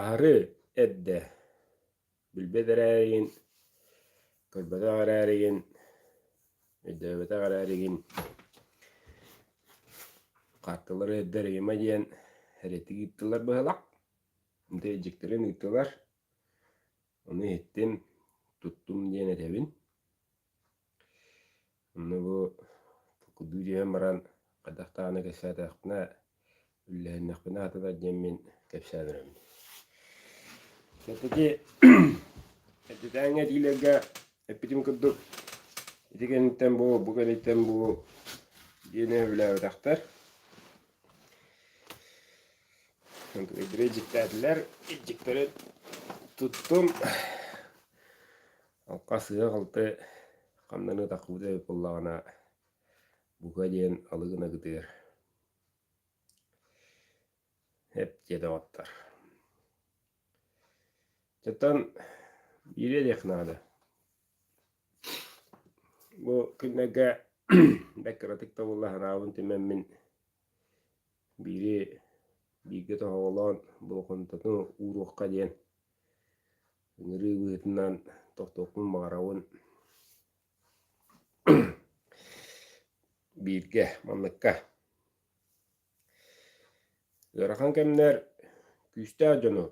Аһары эрдэ билбэт эрээригин, көрбөтөх эрээригин, өйдөөбөтөх эрээригин хаартылары эрдэригима диэн эриэтик ыыттылар быһылак. Дьиктирин ыыттылар. Ону иһиттим, туттум диэн этэбин. Онно бу кылдыы түһэн баран хайдах даҕаны кэпсээтэхпинэ үллэһиннэхпинэ атытар диэн мин кэпсээн эрэммин Кэнтики эрдэтээҥҥи этиилэргэ эппитим курдук ити кэнниттэн бу бу кэнниттэн бу диэни үлээбэтэхтэр дьиктээтилэр иччиктэрин туттум Окко сыыһа-халты ханныгы такпыта эбит буоллаҕына, бука диэн алы гына кытыыр, эт диэтэҕиттэр. Чатан биириэ диэх наада. Бу күннэргэ бэккиратык да буолла санаабын тимэммин биири бииргэ тоһоҕолоон болҕомтоту ууруохха диэн Ыҥырыы быһыытынан тохтуохпун баҕарабын бииргэ манныкка. Ыарахан кэмнэр күүстээх дьону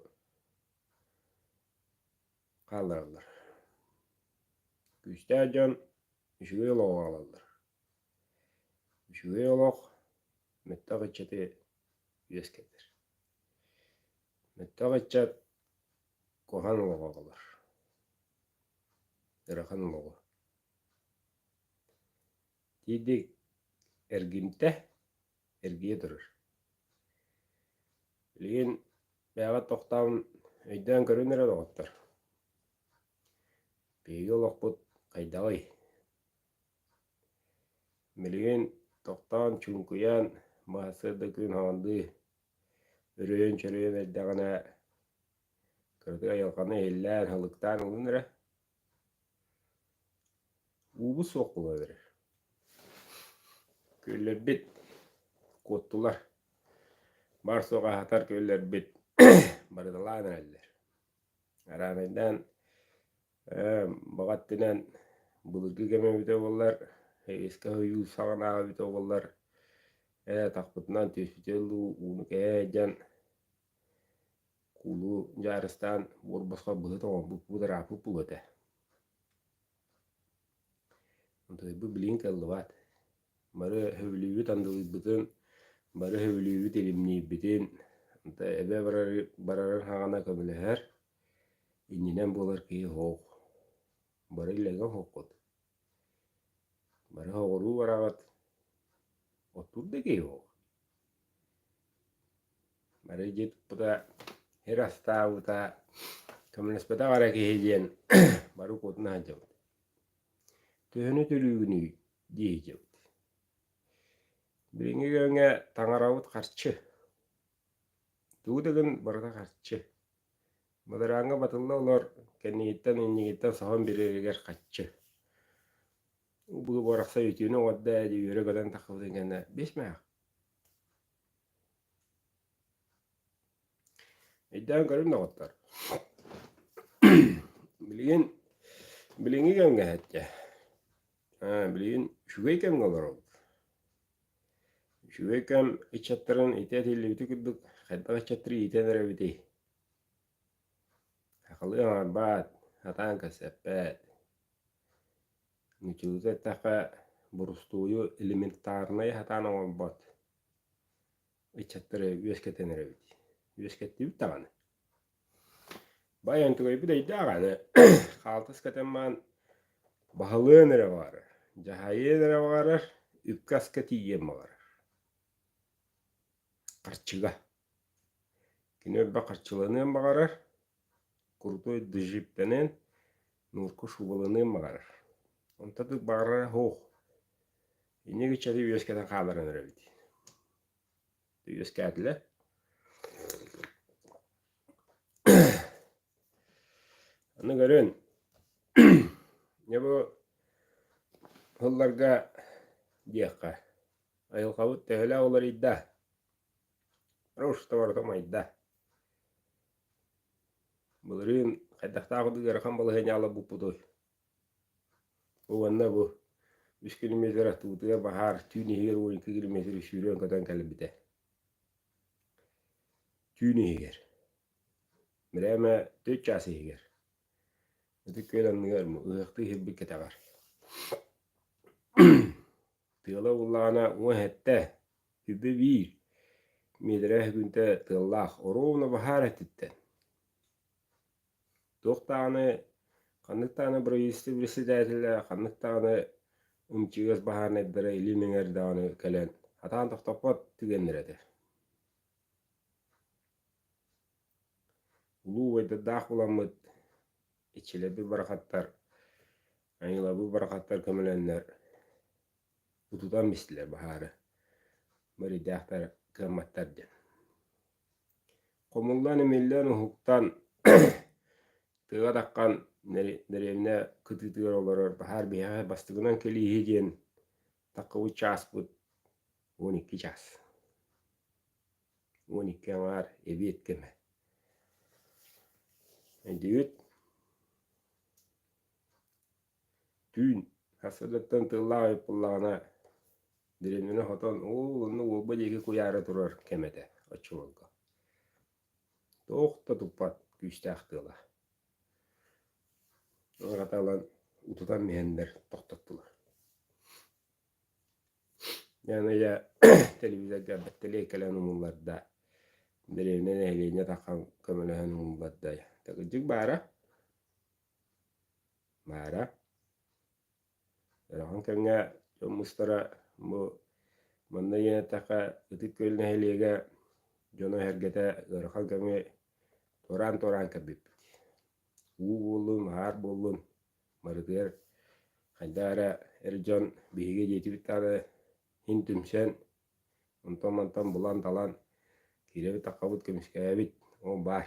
хааллараллар. Күүстээх дьон үчүгэй олоҕу хаалаллар. Үчүгэй олох мөлтөх ыччаты үөскэтэр. Мөлтөх ыччат куһан олоҕо оҕолор. Ырахан олоҕу. Тиийдик эргимтэ, эргийэ турар. Билигин бэйэҕэ тохтоон өйдөөн көрөн эрэр оҕоттор. Биһиги олохпут хайдаҕый? Билигин тохтоон, чуҥкуйаан, баһа сырда күн хаҥардыы Үрүйэн-чөрүйэн эрдэҕинэ кыракый айылҕаны иһиллээн, һалыктаан ылын эрэ, уугу суох була берер. Күөллэрбит куоттулар, бар-суох аһатар күөллэрбит барыталаан эрэллэр. Араанайдаан Ээ, баҕа өттүнэн былыргы кэмэ эбитэ буоллар, искэ ойуу саҕанааҕы эбитэ буоллар, ээ, атахпытынан түспүтэ дуу, ууну кэһэ сылдьан, куулу дьаарыстаан буор босхо быһа тоҥорбуппут, ырааппыппыт этэ. Антыһыйбыт билигин кыаллыбат. Бары сөбүлүүбүт андылыйбытын, бары сөбүлүүбүт илимниирбитин, эбэ барарын саҕана көмөлөһөр. Иннинэн буолар киһи оһох, бары илэҥҥэ оһоххут, бары оһоҕуруу бараҕыт, оттуур да киһи оһох. Бары дьиэ туппута, сир астаабыта, көмөлөспөтөх эрэ киһи диэн бары укуотун аһардьабыт. Төһөнү төлүүгүнүй дии иһдьэбит. Билиҥҥи кэмҥэ таҥарабыт харчы. Тугу да гын барыта харчы. Бадарааҥҥа батылла олор, кэннигиттэн иннигиттэн соһон бириэригэр хаччы. Буруобарахса үтүөнү оҥордо ээ дии үөрэ гынан таххыбытын кэннэ биэс мех. Өйдөөн көрүн доҕоттор, билигин билиҥҥи кэмҥэ эһэтдэ, билигин үчүгэй кэмҥэ олоробут. Үчүгэй кэм ыччаттарын ити этиллибити курдук, хайдах ыччаттары иитэн эрэбитий? Сахалыы аҥарбаат, сатаан кэпсэппэт. Нууччалыы эттэххэ, бурустуую элементарнайа сатаан оҥорбот. ыччаттары үөскэтэн эрэбит үөскэттибит даҕаны бай онтугайбыт эйдээх аны хаалтыс кэтэн маан баһылыан эрэ баҕарар дьаһайыан эрэ баҕарар үпкэ аска тиийиэн баҕарар харчыга кини элбэх харчыланыан баҕарар крутой дыжиптанан нурку шубаланыан баҕарар онтон баҕарара суох Инники чэри үөскэтэн хааларын өрөбүт. Үөскээтилэр. Аны көрүн, не бу һылларга диэххэ, айылҕабыт төһөлө уларыйда, руштоварта майда. Былырыын хайдахтаах ыарахан балаһыанньа ала буппутуй? Уонна бу үс километр аттыбытыгар баһаар түүн иһигэр уон екі километр сүүрүөн көтөн кэлбитэ. Түүн иһигэр, бирээмэ төрүт чаас иһигэр, ытык күөл анныгар ыһыахтыы иһирбит кэтэҕэр. Тыала буллаҕына уон сэттэ сирдэ биир миэтэрэ үһүгүнтэ тыаллаах, ровно баһаар өттүттэн. туох даҕаны ханнык даҕаны бырайыастыы председателэ ханнык даҕаны МЧС баһаарынайдара илии мэҥэр даҕаны кэлэн хатаан тохтоппот түгэннэр этэ улуу убайдардаах уламмыт иччилэрбит барахаттар айылабыт барахаттар көмөлөннөр утутан истилэр баһаары мэрийдээхтэр кыамматтар диэн Хомуллан-имиллэн, уһуктан, тыга таххан дэриэбинэ кытыытыгар олорор баһаар биһиэхэ бастакынан кэлииһи диэн таххыбыт чааспыт уон икки чаас. Уон икки аҥаар эбиэт кэмэ. Өйдүүбүт түүн сарсыардаттан тыллаах ыйыппыллаҕына дэриэбинэни хотон ол онно уолба диэки куйаары турар кэм этэ оччолорго туох да туппат күүстээх тыала аҕата ылан утутан иһэннэр тохтоттулар яныя телевизорга бэттэлиэй кэлэн умулларда дэриэбинэ нэһилиэнньэ таххан көмөлөһөн умулларда такырдьык баара Маара, үөрэҕин кэмҥэ дьон мустара бу манна иэтэххэ Ытык Күөл нэһилиэгэ дьоно эһэргэтэ ыарахан кэми туораан-туораан кэлбиппит. Уу буоллун, аһаар буоллун, барытыгар хайдах эрэ эр дьон биһиги диэтибит даҕаны иһин түмсэн, онтон-мантан булан-талан киирэбит-таххабыт, көмүскээбит, ол баар.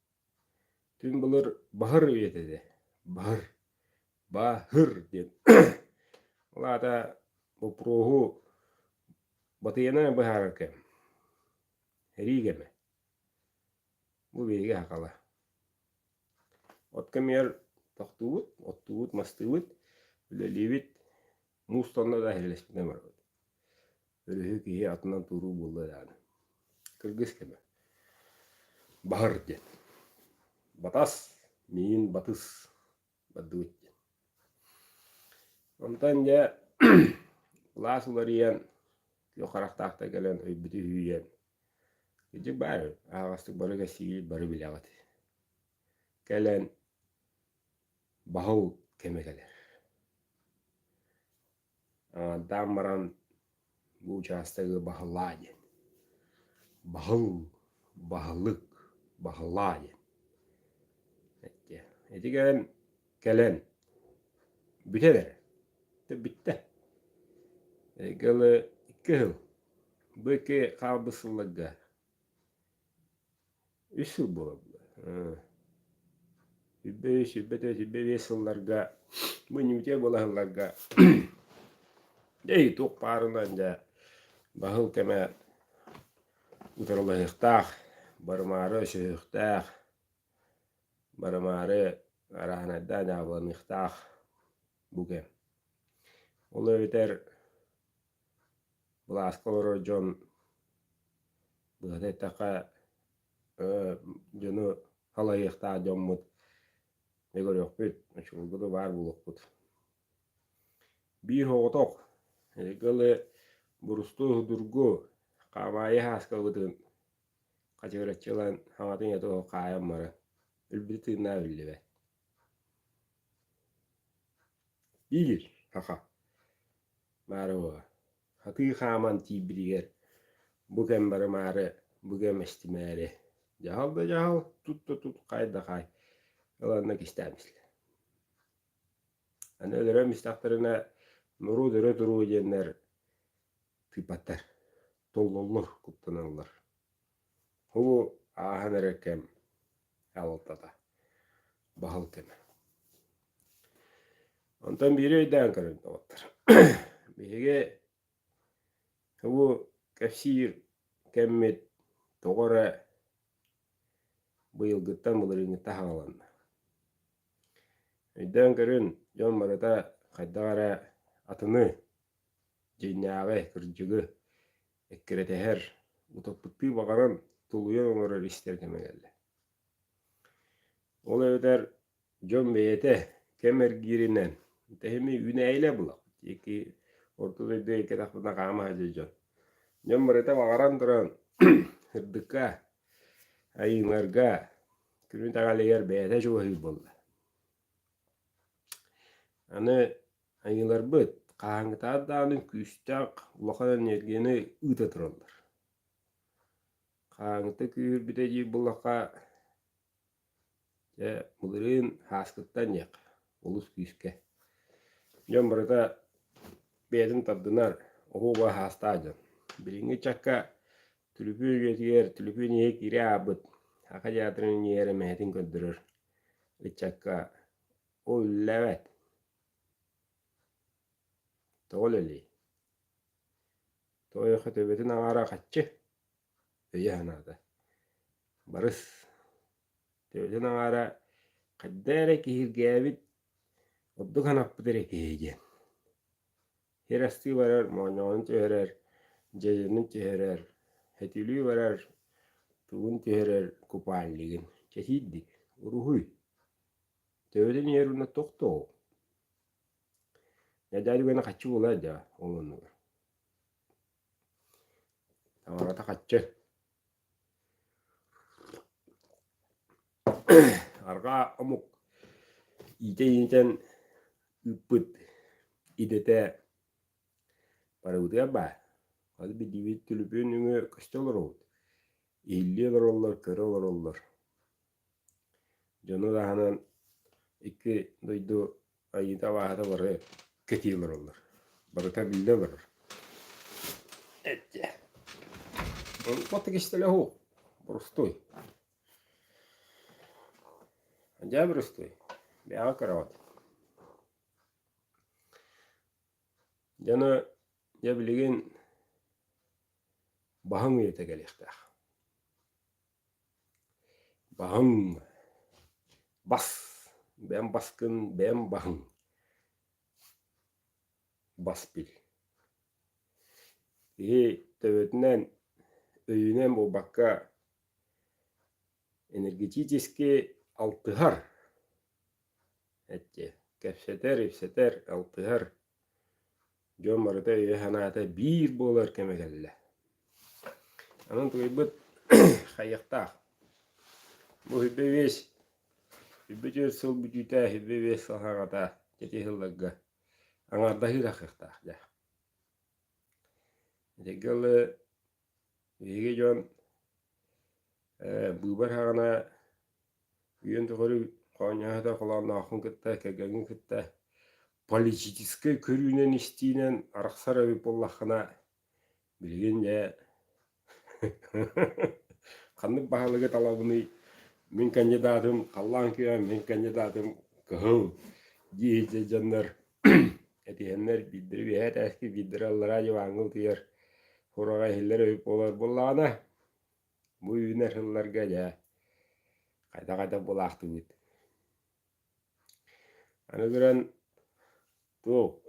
Түҥ былыр «баһыр» үйэтэ этэ. «Баһыр», «баһыр» диэн. Ол аата боппуруоһу батыйанан быһаарар кэм. Эрии кэмэ. Бу биһиги хакала. От кэмигэр тохтуубут, оттуубут, мастыыбыт, үлэлиибит. Мустанна да иһилэспитинэн барбыт. Өрүһү киһи атынан туруу буолла даҕаны. Кыргыс кэмэ. Баһар диэн. Батас, миин батыс бардыбыт диэн. Онтон дьэ былаас уларыйан, күөх харахтаахтай кэлэн өйбүтү үһүйэн, кырдьык баар, аһаҕастык бары кэпсиибит бары билэҕит. Кэлэн баһыл кэмэ кэлэр. Таам баран бу учаастагы баһылаа диэн. Баһыл, баһылык, баһылаа диэн. Итигэ кэлэн бүтэн эрэ. Бүттэ. Кылы кыһыл. Бу ики хаалбыт сылларга үс сыл буолабыт сүүрбэ үс сүүрбэ төрт сүүрбэ биэс сылларга мунньубутия буола сылларга дьэ итук паарынан дьэ баһыл кэмэ утарылаһыахтаах барымаары өсөһүөхтээх барымаары арааһынайдаа дьаабыланыахтаах бу кэм ол эбэтэр Былааска олорор дьон быһата эттэххэ дьону халайыахтаах дьоммут дьэ көрүөхпүт очулуурбуту баар буолуохпут. Биир соҕотох эһиги ылы бурусту судургу хаамаайы сааскабытын хачыгыраччы ылан саҥатын ийэтэ хаайан баран өлбүтэ тыыннаах биллибэт Иил, хаха. Маарыва, хатыы хааман тиийбитигэр бу кэм барымаары, бу кэм эстимээри дьаһал да дьаһал, тут да тут, хай да хай ыланна кистээн бистилэр. Аны өлөрөн бистахтарына нуру дөрө туруу диэннэр тыыпаттар толлоллор, куттаналлар. Бу ааһан эрэр кэм аҕалтата баһал кэмэ. Онтон биири өйдөөн көрөн оттор. Биһиги бу кэпсиир кэммит тоҕо эрэ быйылгыттан былырыыҥҥыта хааланна. Өйдөөн көрүн, дьон барыта хайдах эрэ атыны дьиҥнээҕи, кырдьыгы эккирэтиһэр, утоппуттуу баҕаран тулуйан олорор истэр кэмэ кэллэ. Ол эбэтэр дьон бэйэтэ кэм эргииринэн тэһими үүнээйилэ булах диэки орто дойду эйгэ тахпытына хаама сылдьар дьон дьон барыта баҕаран туран ырдыкка айыыларга күнү даҕалыгар бэйэтэ чугаһыыр буолла аны Айыыларбыт хааһыҥкытаат даҕаны күүстээх улахан эниэргийэни ыыта тураллар. Хааһыҥкыта күүһүрбүтэ дии булахха дьэ былырыын һааскыттан диэххэ олус күүскэ. Дьон барыта бэйэтин тардынар оһуоба һаастаах дьон. Билиҥҥи ыччакка түлүпүн үйэтигэр түлүпүн иһэ киирэ аһаабыт саха театрын иҥэрэ мэһэтин көрдөрөр ыччакка ол үллэбэт. Тоҕо үлэлиэй? Тоойохо төбөтүн аҥаара хаччы өйө санаата. Барыс, төбөтүн аҥаара хайда эрэ киһиргээбит ордук санаппыт эрэ киһи диэн. Сир астыы барар, моонньоҕонун түһэрэр, дьэдьэнин түһэрэр, этилии барар, тугун түһэрэр купальнигын, чэтиирдик, уруһуй. Төбөтө ньиэр уонна тохтоо. Эдээ үгэнэ хаччы була да ол оннуга. Таҥарата хаччы. Арҕаа омук иитэ иитэн ыппыт идэтэ барыбытыгар баар. Аны биллибит түлүпүн үҥө көстө олоробут. Иһиллии олороллор, көрө олороллор. дьону таһынан икки дойду айыыта-абааһыта бары кэтии олороллор. Барыта биллэ олорор. Этчэ. Отто кистеле ху. Простой. Дьэ простой. Бэҕэ кыраҕыт. Дьоно дьэ билигин баһыҥ үйэтэ кэлиэхтээх. Баһыҥ, бас, бэм баскын бэм баһыҥ, бас бил Киһи төбөтүнэн, өйүнэн буолбакка, энергетически алтыһар Эчи, кэпсэтэр-ипсэтэр, алтыһар дьон барыта өйө-санаата биир буолар кэмэ кэллэ. Аны утуйбут хайыахтаах. Бу сүүрбэ биэс, сүүрбэ түөрт сыл бүтүүтэ, сүүрбэ биэс сыл хараҕата дьити сылларга аҥаардаһыы тахсыахтаах дьэ. Итиргэ Биһиги дьон быыбар хаҕына үйэн тухары хоонньоһото холооннооххун кытта кэргэҥҥин кытта политическай көрүүнэн-истиинэн арахсар эбит буоллаххына билигин дьэ ханнык баһылыгы талабыный мин кандидатым халлаан күөм мин кандидатым кыһыл дии сылдьар дьоннор этиһэннэр биирдэрэ үөһээ этээски биирдэрэ аллараа дьыбааҥҥа утуйар Кураҕа иһиллэр үһү буолар буоллаҕына, бу үүнэр сылларга дьэ хайда-хайда булаахтыыбыт. Аны туран, ту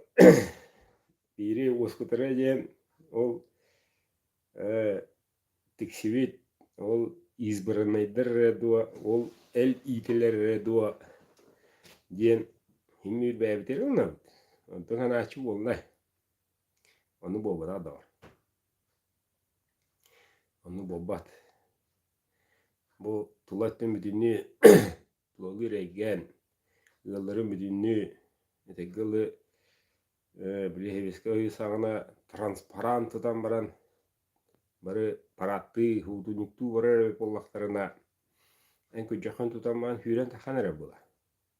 биири ускутары диэн ол э, тиксибит, ол избраннайдар эрэ дуо, ол эл иитилэр эрэ дуо диэн химмиир бэйэбитин ылынабыт. Онтон санааччы буолла. Ону буолбатаҕа доо? Ону буолбат. Бу тула өттүн бүтүннүү тулагы үрэйгээн, ыалларын бүтүннүү этэҥҥэ ылы бириэһибискэ ыйы саҕана транспарант ытан баран бары парадтыы, уутунньуктуу барар эбит буоллахтарына, эн күдьэххин тутан баран сүүрэн-тахсан эрэр буолар.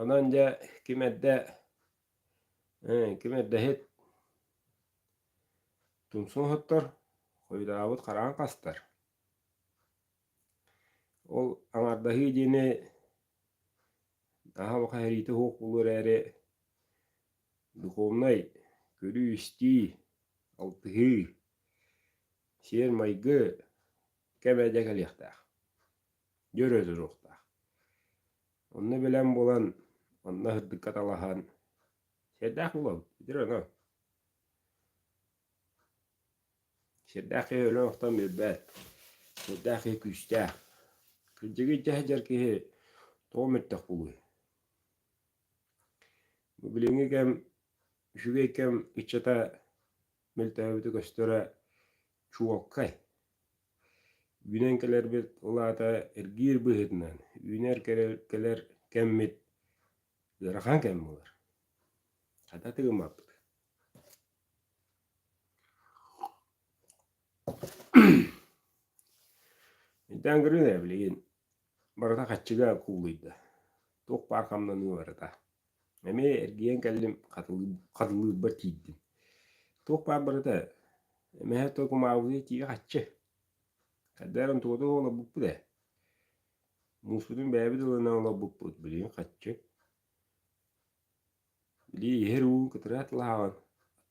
Онон дьэ ким эрдэ ким эрдэһит тумсун оһоттор, хойутаабыт хараҕын хастар. Ол аҥардаһыы диэни наһаа баха эһэриитэ уһук булуо эрээри духовнай көрүү-истии, алтыһыы, сиэр-майгы кэм эрдэ кэлиэхтээх, дьөрө туруохтаах. Онно билэн булан, онно сырдыкка талаһан, сиэрдээх булабыт, итир оно. Сиэрдээх киһи өлөн охтон билбэт, сиэрдээх киһи күүстээх. Кырдьыгы дьэһдьэр киһи тоҕо мөттөх булуй? Бу билиҥҥи кэм үчүгэй кэм ыччата мөлтөөбүтү көстөрө чуолкай. Үүнэн кэлэрбит улаата эргиир быһыытынан үүнэр кэлэр, кэлэр кэммит ыарахан кэм буолар. Хата тыгыммаппыт. Итэн грыны билигин Барыта хаччыга куулуйда. Туох баар хамнаныы барыта. Эмиэ эргийэн кэллим, хатылыы- хатылыырбар тиийдим. Туох баар барыта эмэһэ тыл кумаабытыйа тиийэ хаччы. Хайдах эрэ онтуката олорбуппут ээ. Мууспутун бэйэбит ылынан олорбуппут, билигин хаччы. Билии иһэр уу кытыраат лааҕын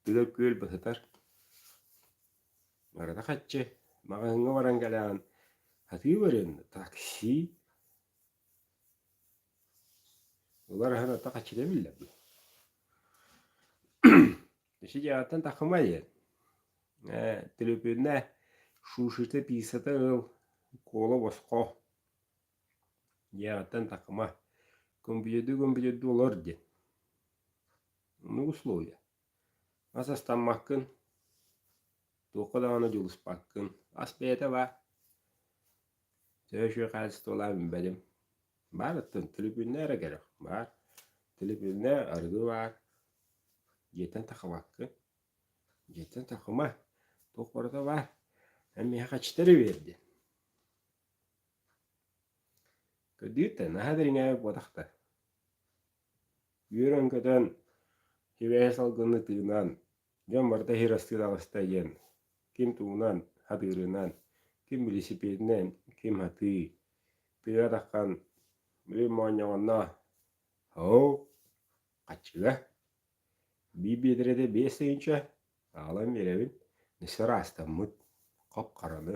аттыгар күөл батытар. Барыта хаччы маҕаһыыҥҥа баран кэлэҕин сатыы барыан да такси Олор аһын ата хаччыта эбиллэр дуу Сидьааттан тахымай диэн ээ төлөпүөннэ шушита писата ыл куола босхо Дьиэҕиттэн такыма, гумбуйду-гумбуйду олор диэн. Оннук условия. Ас астаммаккын, туохха даҕаны дьулуспаккын, ас бэйэтэ баар. Төһө үчүгэй хаачыстыбалаах билбэтим. Баарыттан төлөпүөннэ эрэ кэлэр, баар. Төлөпүөннэ арыгы баар. Дьиэттэн такымаккын. Дьиэттэн такыма, туох барыта баар. Эн миэхэ хаччыта эрэ биэр диэн. Көрдүүртэн наһаа дириҥээбит буоллахтар. Үөрэн көтөн, сибэһи салгыны тыынан, дьон барыта иһир астыы таҕыста диэн, ким туунан, атыырынан, ким билисипиэтинэн, ким атыы, тыа атаххан, били моонньоҕонно «Оһоо, хаччыга, биир биэдэрэтэ биэс тыһыынча, аҕалан биэрэбин, нисэ ыраастаммыт, хоп-хараны»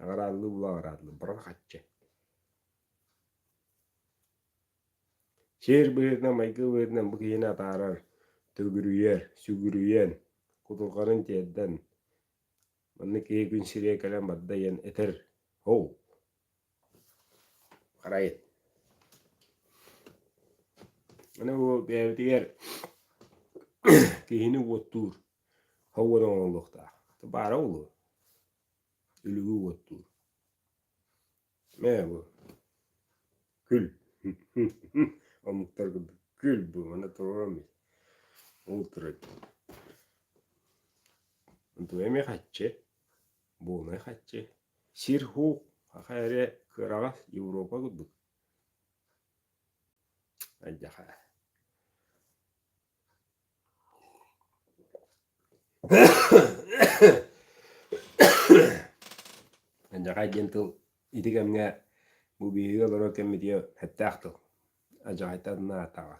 Аҕырааллыы-була аҕырааллыы баран хаччы Сиэр быһыытынан, майгы быһыытынан бу киһини атаарар, төгүрүйэр, сүгүрүйэн, кутурҕанын тиэрдэн, манна киһи күн сириэ кэлэн барда диэн этэр оу харайын. Аны бу бэйэбитигэр киһини уоттуур һауан оҥоһуллуохтаах. Баара буолуо. Үлүгү уоттуур Мээ бу Күл Омуктар курдук күл бу Маны толором ит Ол турай Онтубай эми хаччы Буунай хаччы Сир хуук Аха эрэ кыараҕас Европа курдук Айдьаха Адьаҕай диэн тыл ити кэмҥэ бу биһиги олорор кэммитигэр эттээх тыл. Адьаҕайтан анаатаҕа.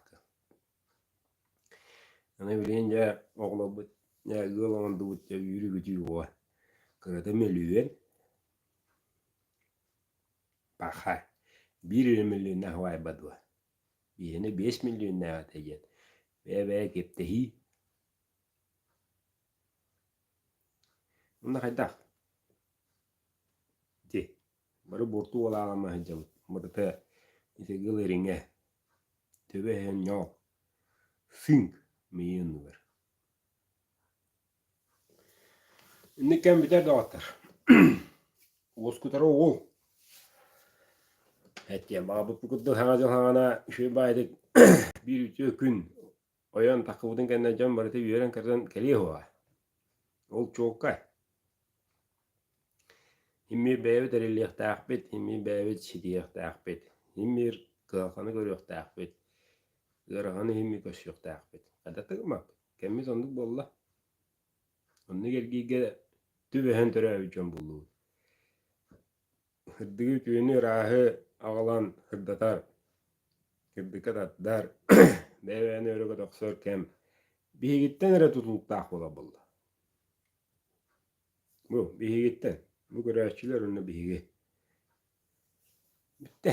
Аны билигин дьэ оҕолорбут дьэ ыал оҥордубут дьэ үүрүгүтүү уо. Кырата мөлүйүөн. Паха. Биир эрэ мөлүйүөннээх убаайба дуо? Бииринэ биэс миллионнаах этэ диэн бэйэ-бэйэ кэптэһии Манна хайдах? Ити бары буорту уолаалама сылдьабыт. Матыта итиги ылыриҥэ, төбө иһэн ньоол, сыыҥ миийэ оннугар Инник кэм бүтэр доҕоттор. Уоскутара уу. Эттиэн баҕарбыппыт курдук саҥа дьыл саҕана үчүгэй баайдык биир үтүө күн ойон таххыбытын кэннэ дьон барыта үөрэн-көтөн кэлиэ уоҕа. Ол чуолкай. Иммир бэйэбит эриллиэхтээхпит, иммир бэйэбит ситиһиэхтээхпит, иммир кыһалҕаны көрүөхтээхпит. Ыарахан иһиммит көстүөхтээхпит. Хайдах гыммаккыт? Кэммит оннук буолла. Онно кэлгииргэ түбэһэн төрөөбүт дьон буллубут. Ырдыгы үтүөнү ырааһы аҕалан ырдатар, кырдыкка тардар, бэйэ-бэйэни өрөгө тохсор кэм биһигиттэн эрэ тутулуктаах буола буолла. Бу биһигиттэн. Бу көрөөччүлэр уонна биһиги. Бүттэ.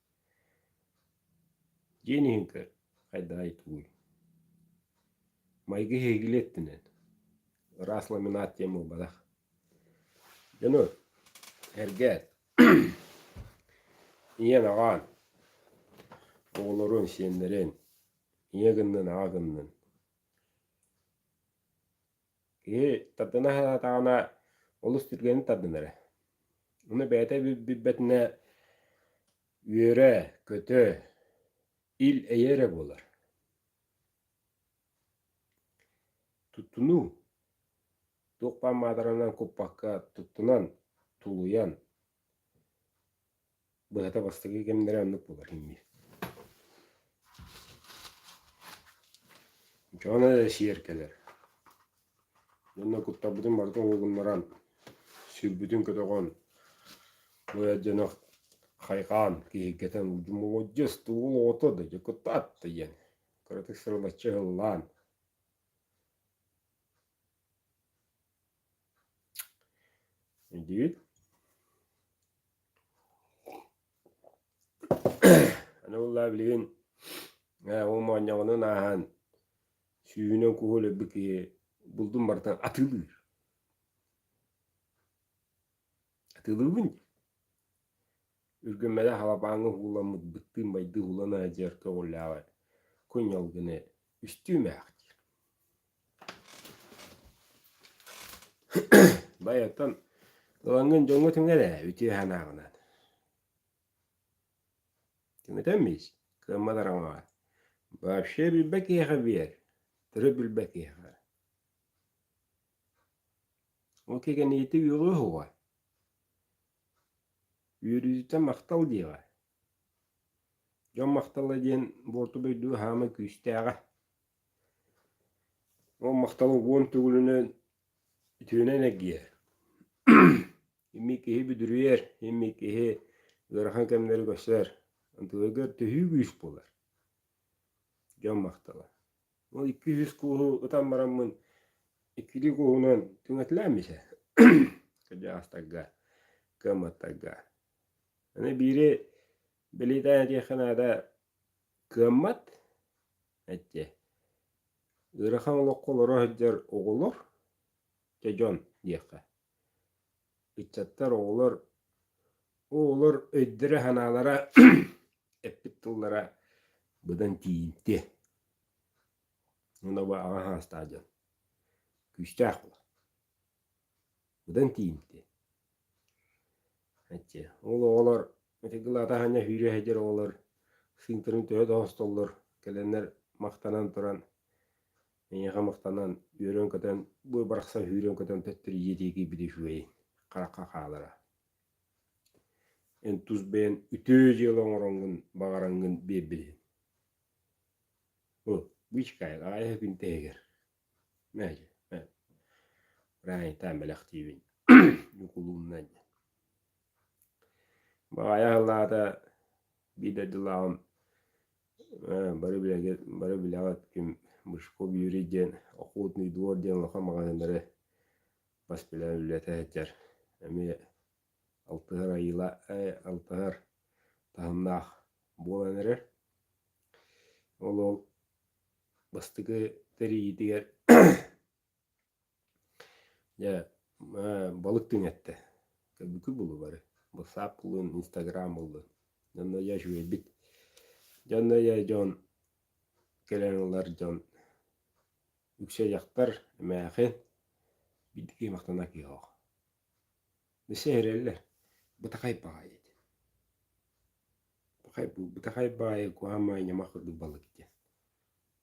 Диэн иһин көр, хайдаҕый тугуй майгы сиһигилии өттүнэн ыраас ламинат диэн буолбатах дьону эргээд ийэн аҕаан оҕолорун сиэннэрин ийэ гыннын аҕа гыннын Киһи тардына сатаҕына олус түргэнник тардынар эрэ. Ону бэйэтэ билбэтинэ үөрэ, көтө, ил эйэ эрэ буолар. Туттунуу туох баар маатаранан куппакка туттунан, тулуйан Быһата бастакы кэмнэрэ оннук буолар инньэ Дьоно эрэ сиэр кэлэр Дьонно куттаммытын барыта уһугуннаран Сирбитин көтөҕөн Бу эр дьоно хайҕаан Киһиргэтэн удьумуоддьус Тугул оҕото да дьэ куттаат да диэн Кыратык сырылаччы ыһыллаан Аны буллаа билигин ол моонньоҕонун ааһан сүүнэ куһу өлөрбүт киһи булдун барытын атыылыыр. Атыылыыбын. Үргүммэни халабааҥҥа ууламмыт быттыын майгы уулана сылдьар көҕүлээҕэ кунньал гына үстүү мээхтиир Бай оттон ылаҥҥын дьоҥҥо түҥэн ээ үтүө санааҕынан. Түҥэтэммиис кыаммат араҥаҕа. Вообще билбэт киһиэхэ биэр, тыры билбэт киһиэхэ. Ол кэргэниити үөҕүө уһуга. Үөрүүтэ махтал диэҕэ. Дьон махтала диэн буорту дойду хаама күүстээҕэ. Ол махтал уон төгүлүнэн үтүөнэн эргийэр. Имми киһи бүдүрүйэр, имми киһи ыарахан кэмнэри көрсөр. Антыгыгар төһүү күүс буолар. Дьон махтала. Ол икки сүүс кууһу ытан бараммын, иккилии кууһунан түҥэтилэммитэ кырдьаҕастарга, кыамматтарга. Аны биири бэлиэтээн этиэххэ наада, кыаммат эттиэ. Ыарахан олоххо олоро сылдьар оҕолор, дьэ дьон диэххэ. ыччаттар оҕолор оҕолор өйдөрө-санаалара эппит тыллара быдан тиийимтиэ уонна аҕа саастаах дьон күүстээх буолар быдан тиийимтиэ аччы ол оҕолор ытыгылаата саанньа сүүрэ сылдьар оҕолор сыыҥтарын төһө да хостоллор кэлэннэр махтанан туран Эйиэхэ махтанан, үөрэн-көтөн, бу барахсан сүүрэн-көтөн тэттэрийиэ диэки били үчүгэйин, харахха хаалара. Эн тус бэйэн үтөө дьыала оҥороҥҥун, баҕараҥҥын биэрбилин. Бу бычкайл аайы күн тэһигэр. Мээдьи, мээ. Раайтаан бэлэхтиибин. Ньукулуумнан. Баҕайа аһыллаата, биир дойдулааҕым Ээ, бары билэҥҥит бары билэҕит ким Бычков Юрий диэн «Охотный двор» диэн улахан маҕаһыыннары бас билэн үлэлэтэ сылдьар. Эмиэ алтыһар айыыла алтыһар таһымнаах буолан эрэр. Ол ол бастакы тэрийиитигэр Дьэ, балык тыын эттэ. Көрбүккүт буолуо бары. Ватсап буллун, Инстаграм буллун. Дьонно я үчүгэйбит. Дьонно я дьон кэлэн ылар дьон үксэ дьахтар эмээхин биирдики махтана киһох. Билсе эрэллэр. Бытахай баҕайы диэн. Бытахай баҕайы куһаамай ньамах курдук балык диэн.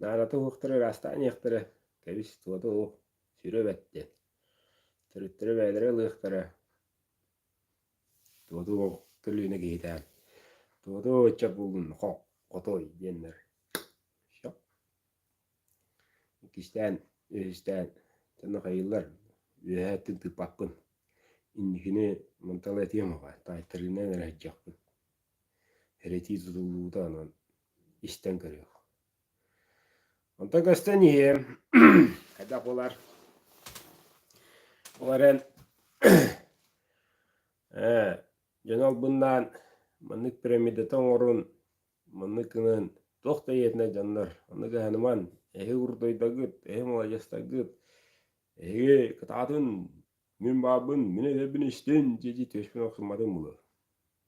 Наадата уһуктара ыраастаан иһиэхтэрэ, кэбис-туота уһук, сүрэ бэт диэн. Төрүттэрэ бэйэлэрэ ылыахтара. Туоту көлүөнэ киһитээн, туоту ычча булун хох, хотой диэннэр. Шоп. Иккистээн, үһүстээн, таны хайыллар, үөһэ өттүн тыыппаккын. Инникини мантала этиэм аҕа, таайтарыынан эрэ сылдьахпын. Эрэтии тутуллуута онон истэн көрүөх. Онтон көстөн иһиэм, хайдах буолар? Ол эрэн дьон албыннаан маннык пирамидата оҥорун, маннык гынын туох да ийэтинэ дьоннор оннук аһыныман эһи урутуйдагыт, эһи муладьастагыт, эһиги кытаатын, мин баарбын, мин эдэбин истин дии-дии түөспүн охсумматым буолуо.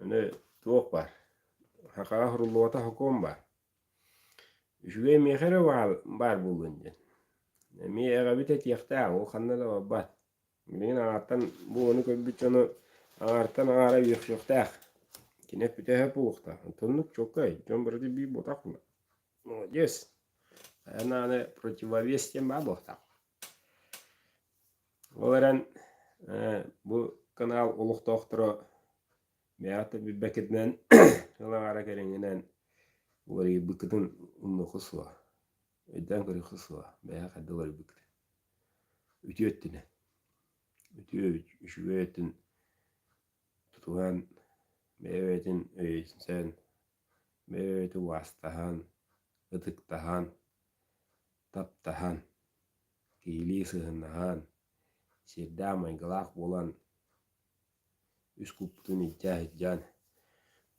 Аны туох бар? Хакаҕа суруллубата сокуон баар. Үчүгэй миэхэ эрэ баар баар буоллун диэн. Эмиэ эҕэбит этиэхтээх, ол ханна да барбат. Билигин аҥаартан бу ону көрбүт дьону аҥаартан аҥаара үөхсүөхтээх. Кини бүтэһик буолуохтаах. Онтуннук чуолкай, дьон барыта биир буолтахпына. Молодец! Хайаан даҕаны противовес диэн баар буолуохтаах. Ол эрэн бу канал олохтоохторо бэйэҕитэ билбэккитинэн ыл аҥаара кэриҥинэн уларыйбыккытын умнуохха суо өйдөөн көрүөххэ суо бэйэҕэ хайдах уларыйбыккытын үтүө өттүнэн үтүө үчүгэй өттүн тутуһан бэйэбитин өйөтүнэн бэйэбитин убаастаһан ытыктаһан таптаһан, киһилии сыһыаннаһан, сиэрдээх майгылаах буолан, үс куппутун илдьэ сылдьан,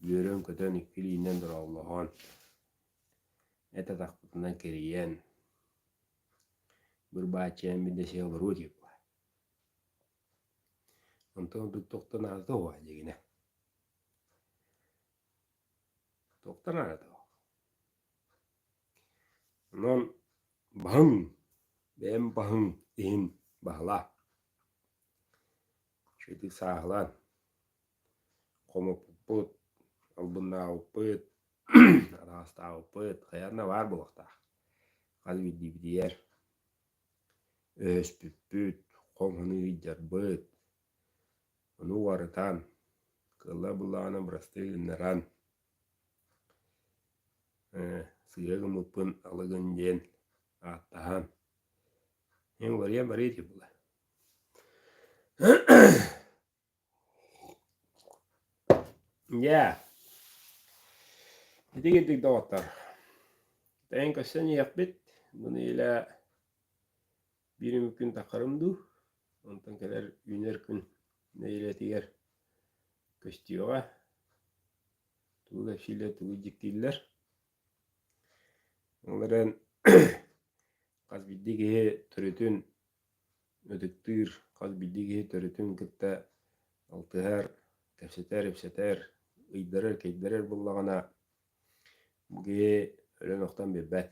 үөрэн-көтөн икки илиинэн дорооллоһон, эт атахпытынан кэрийэн, быр-бааччаяммит да сиэ олоруо диye була. Онтон ордук тохтонаата уһа дигине. Туохтан аратыгах? Онон баһыҥ, бэйэм баһыҥ иһин баһылаа. Итии сааһылаан, хомуппуппут, албыннаабыппыт, араастаабыппыт, хайаан да баар буолуохтаах. Хас биирдиибитигэр өһөспүппүт, хоҥ-хонуу ыйдьарбыт, Ону уларытан, кыыллар буллаҕына бырастыы гыннаран, сыыйа гыммыппын алыгын диэн ааттаһан, эн уларыйа барыа ити буолар Дьэ, итин курдук доҕоттор, тэйэн көрсөн иһиэхпит, бу нэдиэлэ Биир үмүк күн таххарым дуу, онтон кэлэр үүнэр күн нэһилиэтигэр көстүөҕэ, тугу кэпсииллэр, тугу дьиктииллэр. Ол эрэн хас биирдии киһи төрүтүн ытыктыыр, хас биирдии киһи төрүтүн кытта алтыһар, кэпсэтэр, ипсэтэр, ыйдарар, кэйдэрэр буоллаҕына, бу киһи өлөн-охтон биэрбэт.